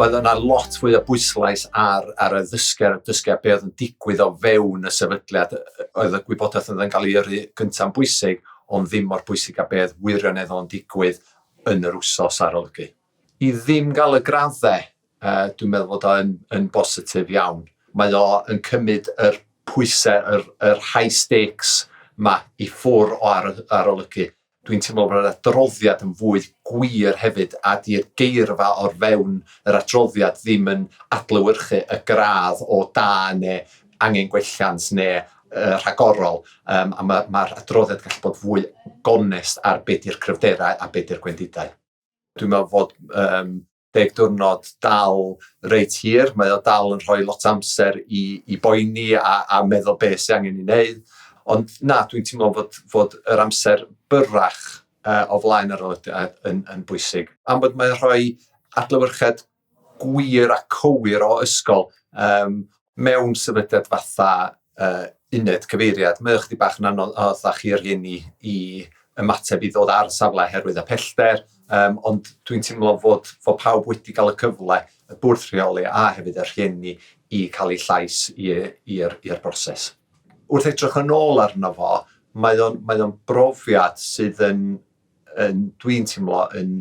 Mae yna lot fwy o bwyslais ar, ar y ddysger, dysger be oedd yn digwydd o fewn y sefydliad. Oedd y gwybodaeth oedd yn cael ei yrru gyntaf'n bwysig, ond ddim mor bwysig a beth wirioneddol yn digwydd yn yr wsos arolygu. I ddim gael y graddau Yy dwi'n meddwl fod o'n yn bositif iawn. Mae o yn cymryd yr pwysau, yr yr high stakes 'ma i ffwr' o ar- arolygu. Dwi'n teimlo bod yr adroddiad yn fwy gwir hefyd a 'di'r geirfa o'r fewn yr adroddiad ddim yn adlewyrchu y gradd o da neu angen gwelliant neu yy rhagorol yym a ma' ma'r adroddiad gallu bod fwy gonest ar be' 'di'r cryfderau a be' 'di'r gwendidau. Dwi'n meddwl fod yym deg diwrnod dal reit hir, mae o dal yn rhoi lot amser i, i boeni a, a meddwl beth sy'n angen i wneud. Ond na, dwi'n teimlo fod, fod yr amser byrrach uh, o flaen yr aelodau yn, yn bwysig. Am bod mae'n rhoi adlywyrched gwir a cywir o ysgol um, mewn sefydliad fatha uh, uned cyfeiriad, mae o chdi bach yn anodd a chi yr hyn i, i ymateb i ddod ar safle herwydd y pellter, um, ond dwi'n teimlo fod, fod pawb wedi cael y cyfle, y bwrdd rheoli a hefyd yr hyn i, i cael ei llais i'r broses. Wrth edrych yn ôl arno fo, mae o'n, mae o'n brofiad sydd yn yn, dwi'n teimlo, yn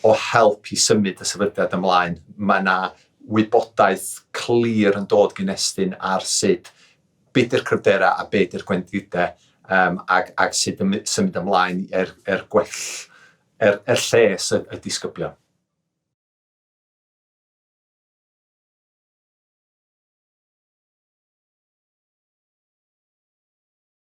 o help i symud y sefydliad ymlaen. Mae yna wybodaeth clir yn dod gyn Estyn ar sut beth yw'r cryfderau a beth yw'r gwendidau um, ac, ac sut y symud ymlaen er, er gwell, er, er lles y, y disgyblion.